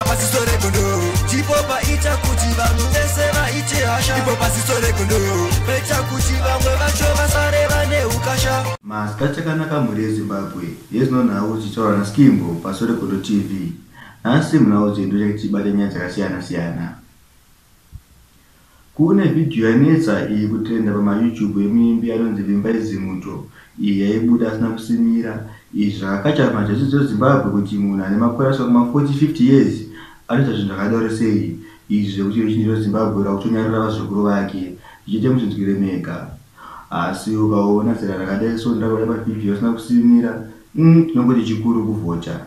Pasiso regondo Chipo paita kuti vanhu vese vaite hasha Ipo pasiso regondo Paita kuti vamwe vacho vasare vane ukasha Maska chakanaka mhuri yeZimbabwe yezvino nhau dzichitaura naSkimbo paSoregodo TV. Nhasi munhau dzedu tenge tichibata nyaya dzakasiyana siyana. Kune vhidhiyo yainetsa iyi kutrenda pamaYouTube yemuimbi anonzi Vimbai Zimuto iyo yaibuda asina kusimira izvi zvakakacha pfungwa dzese dzeZimbabwe kuti munhu ane makore asvika kuma 40, 50 years anoita zvinhu zvakadaro sei izvi zvekuti ruzhinji rweZimbabwe rwakutonyarara vazukuru vake zvichiita mutinzwire mega asi ukaona zera rakadai so ndakauya pavhidhiyo asina kusimira umm tinongoti chikuru kuvhota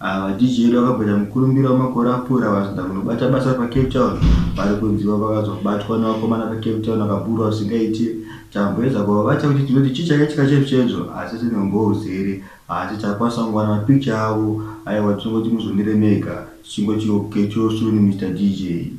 Ava VaDJ Edu vakabvunza mukurumbira wemakore apfuura ava vachida kunobata basa paCape Town vari kunziwa vakazobatwa nevakomana paCape Town vakabhurwa zvisingaite. Tamboedza kuvabata kuti tione kuti chii chakaitika chaizvo chaizvo asi tine umboo huzere asi takwanisa kungowana mapikicha avo. Aiwa tinongoti muzomire mega. Chingoti okay, choo soon Mister DJ.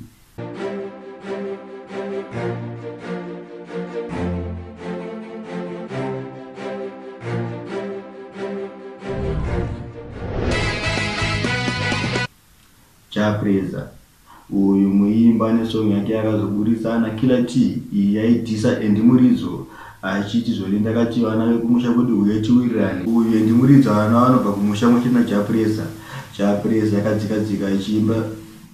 Chapreza uyu muimba ane song yake yakazoburitsa ana killer t iyi yaidhisa endi muridzo achiti zvolinda kati vana vekumusha kuti huye tiwirirane uyu endi muridzo vana vanobva kumusha muchena japreza japreza yakadzikadzika ichiimba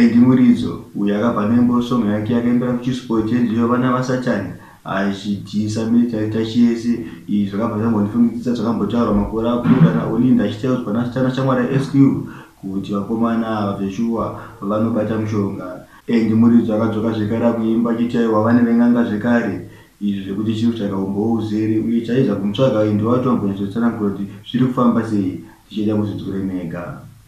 Eddie Muridzo uyo akabva anoimbawo song yake yakaimbira kuChispo Change iyo vana vasachanya achidyisa miri taita chese. Izvi zvakabva zvambondifungidzisa zvakambotaurwa makore apfuura naOlinda achiti audzwa naStana shamwari yaSQ kuti vakomana ava zveshuwa vanobata mushonga. Eddie Muridzo akadzoka zvekare akuimba achiti aiwa vane ven'anga zvekare izvo zvekuti chiri kutsvaga humbowo uzere uye chaiza kumutsvaga uyu ndiwe wati wambonyatsodzitsanangura kuti zviri kufamba sei tichaita muzvinzwire mega.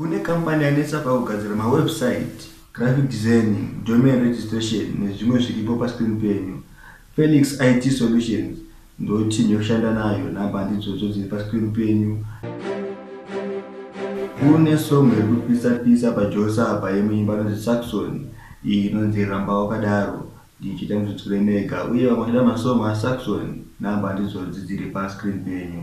Kune kambani yanetsa pakugadzira mawebsite, graphic designing, domain registration nezvimwe zviripo pascreen penyu. Felix IT Solutions ndoteam yekushanda nayo number ndidzodzo dziri pascreen penyu. Kune song yekupisa pisa paJosa apa yemuimbi anonzi Saxon iyi inonzi Ramba Wakadaro ndichida muzvidzure mega uye vamwe vachida masong aSaxon number ndidzodzi dziri pascreen penyu.